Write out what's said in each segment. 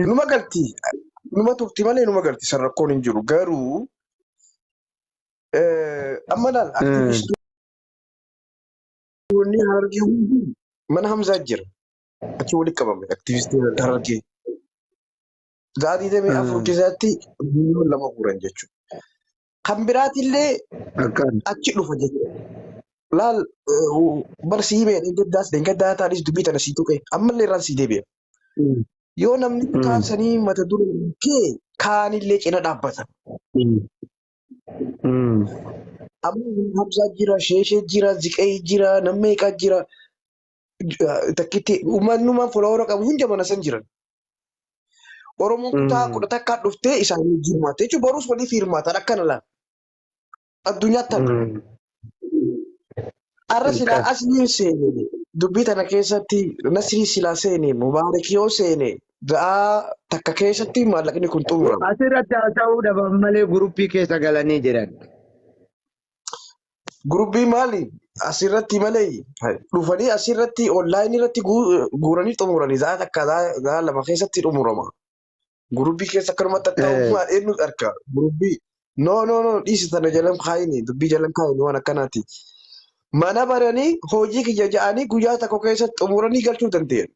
Numa galti. Numa turti malee numa galti. San rakkoon hin jiru. Garuu eh, amma laal Mm. aktivistoonni harargee hundi mana Hamzaa jira. Achi walitti qabame aktivistiin harargee. Sa'aatii damee afur Mm. keessatti miliyoon lama guuran jechuudha. kan biraatillee Akkaan. achi dhufa jechuudha. Laal barsi himee dheengaddaas dheengaddaa taanis dubbii tana sii tuqe ammallee irraan sii deebi'a. Mm. Yoo namni Mm. kaan sanii mata dura kee kaanillee cina dhaabbata. Mm. Mm. Amma Hamzaa jira, Sheeshee jira, Ziqee jira, Nammeeqaa jira. takkitti uummannumaan foloora qabu hunda mana san jiran. Oromoon kutaa Mm. kudha takkaa dhuftee isaan wajjin hirmaatte jechuun boruus waliif hirmaatan akkana laal. Addunyaatti tana. Mm. Arra silaa Ilkaan. asliin seene dubbii tana keessatti nasrii silaa seene mubaarak yoo seene ga'aa takka keessatti maallaqni kun xumurama. Asirratti haasa'uu dhaban malee guruppii keessa galanii jiran. Gurubbii maali asirratti malee dhufanii asirratti onlaayinii irratti guuranii xumuranii zaa takka zaa lama keessatti xumurama. Gurubbii keessa akkanumatti akka uumaan eenyu arka gurubbii noo noo noo dhiisi sana jalan kaayini dubbii jalan kaayini waan akkanaati. Mana baranii hojii kiyya ja'anii guyyaa tokko keessatti xumuranii galchuu danda'an.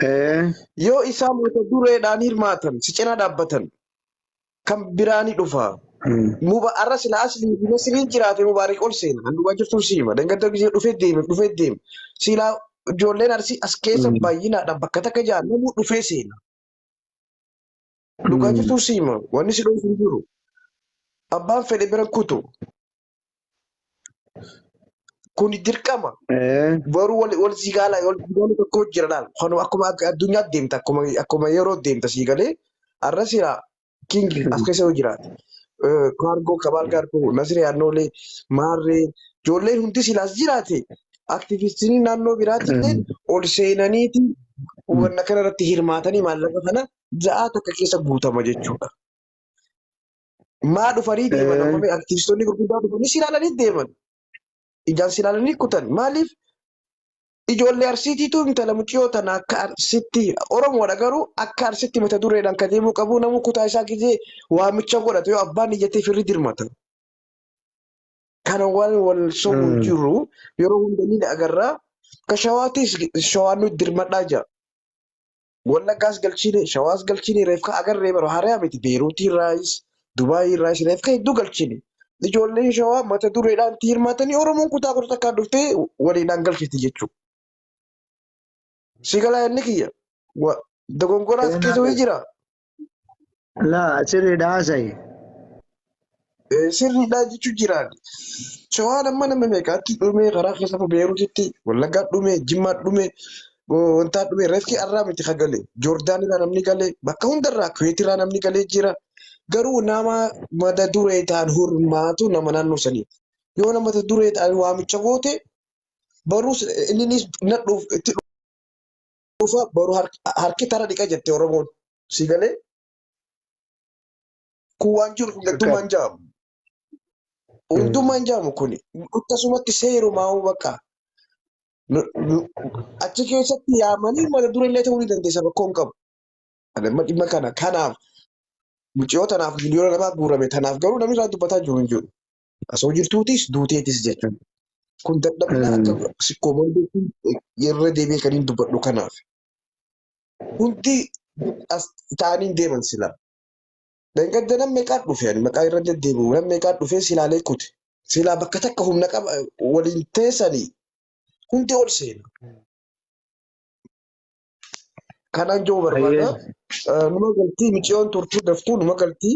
Ee, Yoo isaan mata dureedhaan hirmaatan si cina dhaabbatan kan biraa ni dhufa. mm, Muba arra sila asli fi nasriin jiraate mubaarik ol seena. Kan duwwaa jirtu si hima. Dangadda gisee dhufee deeme dhufee deeme. Sila ijoolleen arsii as keessa mm, baay'inaadhaan bakka takka jaan namuu dhufee seena. Dhugaa mm. jirtu si hima. Wanni si dhoofu hin jiru. Abbaan fedhe bira kutu. Kuni dirqama. Eh, Boruu wal, wal sii gaala, wal sii gaala tokko jira laal. Kanu akkuma ak- addunyaatti deemta, akkuma, akkuma yeroo deemta sii galee. Arra sira kingi as keessa yoo jiraate. Eh, Kaargoo, kabaal kaargoo, nasiree annoolee, maarree, ijoolleen hundi silaas jiraate. Aktivistinii naannoo biraatti illee ol seenaniiti wanna kana irratti hirmaatanii maallaqa kana ja'a takka keessa guutama jechuudha. Maa dhufanii deeman amma mee artiistonni gurguddaa dhufanii si ilaalanii deeman. Ijaan si ilaalanii kutan. Maaliif ijoollee arsiitiitu intala muciyoo tana akka arsitti Oromoodha garuu akka arsitti mata dureedhaan ka deemuu qabu namuu kutaa isaa gizee waamicha godhatu yoo abbaan iyyatee firri dirmata. Kana waan wal sobu hin jiru yeroo hunda ni agarra. Ka shawaatis shawaan nu dirmadhaa jira. Wallaggaas galchiine, Shawaas galchiine reefka agarree bara haaraa miti Beeruutii irraayis, Dubaayii irraayis reefka hedduu galchiine. Ijoolleen Shawaa mata dureedhaan itti hirmaatanii Oromoon kutaa kudha takkaan dhuftee waliidhaan galchiti jechuudha. Si galaa yaadni kiyya? Wa, dogongoraas Seenaa keessa wayii keessa. jira? Laa sirriidha haasa'i. Eh, Sirriidha jechuun jiraan. Shawaan amma nama meeqaatti dhume karaa keessa Beeruutitti, Wallaggaa dhume, Jimmaa dhume, go- wantaa dhume, reefki arraa miti ka gale. Joordaan irraa namni gale, bakka hundarraa Kuweet irraa namni galee jira. Garuu nama mata duree ta'an hormaatu nama naannoo sanii. Yoo nama mata duree ta'an waamicha goote baruus inninis nadhuuf itti dhufa boru harki tara dhiqa jette Oromoon. Si galee? Kun waan jiru hundummaan jaamu. Hundummaan jaamu kuni. Akkasumatti seerumaa bakka. Achi keessatti yaamanii mata duree illee ta'uu ni dandeessa rakkoo hin qabu. Amma dhimma kana kanaaf mucayyoo tanaaf miliyoona namaa guurame tanaaf garuu namni irraa dubbataa jiru hin jiru. Asoo jirtuutis duuteetis jechuun kun dadhabina akka sikkoomoondeetiin irra deebi'ee kan hin dubbadhu kanaaf. Hundi as ta'anii deeman silaa. Dhangadda nam meeqaa dhufe ani maqaa irra deddeebi'u nam meeqaa dhufee silaalee kute. Silaa bakka takka humna qaba waliin teessanii hundi ol seena. Kanaan jiru barbaada. Numa galtii miciyoon turtuu daftuu numa galtii.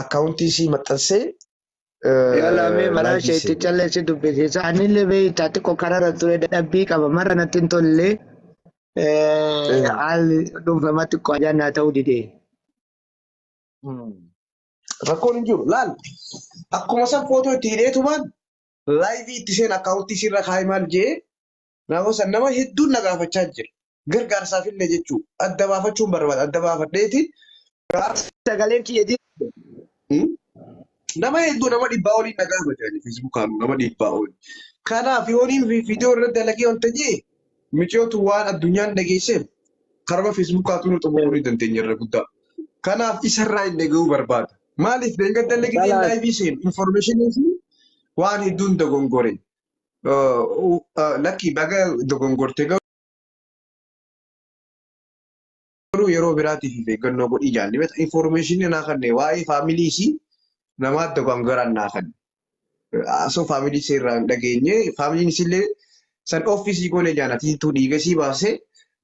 akkaawuntii isii maxxansee Yala mee maraa laayivii isheetti seene. callee si dubbisiisa. Anillee beektaa xiqqoo kararra ture dadhabbii qaba. Marra natti hin tolle. Eh, Haalli dhuunfamaa xiqqoo ajaan naa ta'uu dide. mm, Rakkoon hin jiru. Laal akkuma san footoo itti hidheetumaan laayivii itti seen akkaawuntii isii irra kaa'ee maal jee Naannoo san nama hedduun na gaafachaa jira. Gargaarsaaf illee jechuu adda baafachuun barbaada. Adda baafadheeti gaafa sagaleen kiyya jira. Nama hedduu nama dhibbaa olii na gaafate ani feesbuukaan nama dhibbaa oli. Kanaaf yooniin viidiyoo irra dalagee wanta jee miciyootu waan addunyaan dhageesseef karuma feesbuukaatuu nu xumuruu ni dandeenya irra guddaa. Kanaaf isarraa hin dhaga'uu barbaada. Maaliif deengadda illee gideen Balaa. laayivii seenu infoormeeshinii fi waan hedduun dogongore. Lakkii baga dogongorte garuu yeroo biraatiif of eeggannoo godhii jaalli beekta. Infoormeeshinii naa kanne waa'ee faamilii isii namaa dogongoran naa kanne. Asoo faamilii isii irraa hin dhageenye faamiliin isiillee san ofiisii goone jaana tiituu dhiiga isii baasee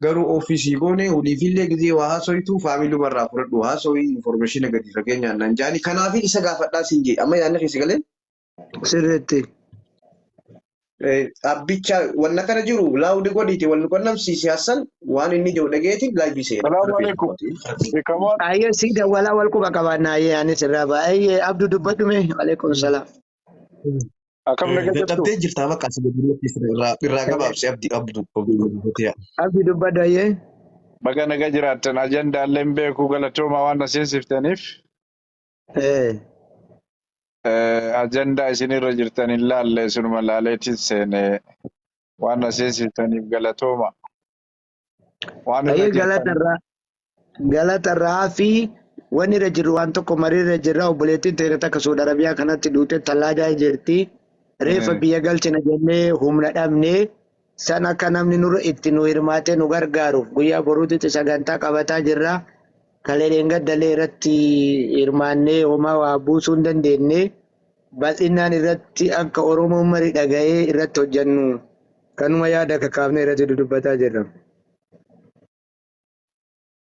garuu ofiisii goone waliifillee gizee waa haasoytu faamiluma irraa fudhadhu haasoyi infoormeeshina gadi fageenyaan naan jaani. Kanaafin isa gaafadhaa siin jee amma yaadni keessa galee. Sirriitti. Eh, Abbicha wanna kana jiru laawudi godhiiti wal nu qunnamsiisi Hassan waan inni jiru dhageeti laayivii seena. Salaamu Rabbiin alaikum. mootii. Beekamaan Ayyee sii dawwalaa wal quba qabaannaa ayyee anis irraa ba'a. Ayyee abdu dubbadhu mee. Waleekum salaam. akkam naga jirtu? Dadhabdee jirtaa maqaa si gadiirratti irraa irraa gabaabsi abdi abdu abdi Abdi dubbadhu ayyee. Baga naga jiraattan ajandaallee hin beeku galatooma waan na seensiftaniif. Ee. Eh, ajandaa isinirra jirtan hin laalle isinuma laaleetiin seene waan na seensistaniif galatooma. Waan irra Ayyee jirtan galatarraa galatarraa fi waan irra jirru waan tokko marii irra jirra obboleettiin teenya takka Suudi Arabiyaa kanatti duute tallaadaa jirti. Reeffa eh, biyya galchina jennee humna dhabnee San akka namni nurra itti nu hirmaatee nu gargaaruuf guyyaa boruutitti sagantaa qabataa jirra. Kalee dheengaddalee irratti hirmaannee homaa waa buusuu hin dandeenye. Bal'innaan irratti akka Oromoon mari dhaga'ee irratti hojjannu kanuma yaada kakaafnee irratti dudubbataa jirra.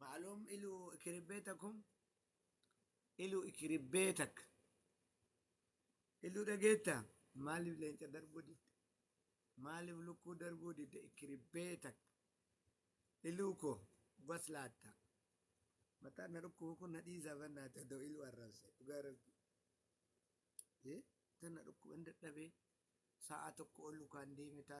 Ma'alum ilu ikiribbetakum ilu ikiribbetak ilu dhageetta maaliif leenca darbuu didde maaliif lukkuu darbuu didde ikiribbetak iluu koo bas laatta mataan na dhukkubu kun na dhiisaa bannaati odoo iluu arrabse dhugaa rabbi Eh, tan na dhukkuba hin dadhabee sa'a tokko ol lukaan deeme taa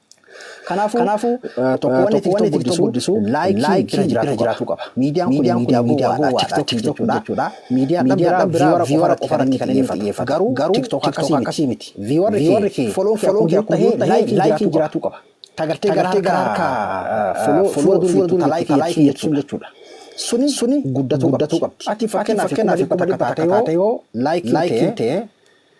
Kanaafuu tokko wanni TikTok guddisu laayikiin bira jiraachuu qaba. Miidiyaan kun miidiyaa gowwaadha TikTok jechuudha. Miidiyaa kan biraa viiwara qofa irratti kan inni xiyyeeffatu. Garuu TikTok akkasii miti. Viiwarri kee foloon kee akkuma jiru ta'ee laayikiin jiraachuu qaba. Ta gartee gara harkaa fuula dura jirtu ta laayikii jechuun jechuudha. Suni guddatuu qabdi. Ati fakkeenyaaf dhibba takka taate yoo laayikiin tee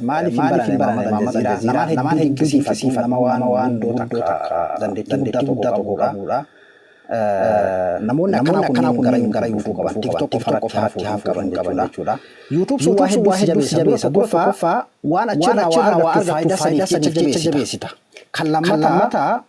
Maaliif hin barane Maamad Aljaziiraa? Namaan hedduu dinqisiifadhu, nama waan waan guddoo takka dandeettii guddaa tokko qabuudha. Namoonni akkanaa kun gara gara yuutuu qaban tiktok qofa irratti haafuu qaban jechuudha. Yuutuub sun waa hedduu si jabeessa. Tokkoffaa waan achirraa waa argattu faayidaa saniif jecha jabeessita. Kan lammataa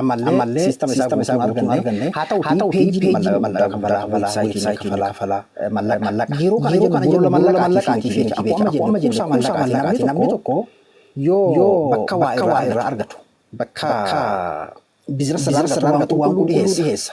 Ammallee siistama isaa guutuu hin arganne. Haa ta'u peejii mallaqa kafalaa weebsaayitii kafalaa kafalaa mallaqa. Yeroo kana jennu borola mallaqaatiif jecha akkuma amma jennu kuusaa mallaqaati namni tokko yoo bakka waa irraa argatu bakka bizinasa irraa argatu waan qulqulluu dhiheessa.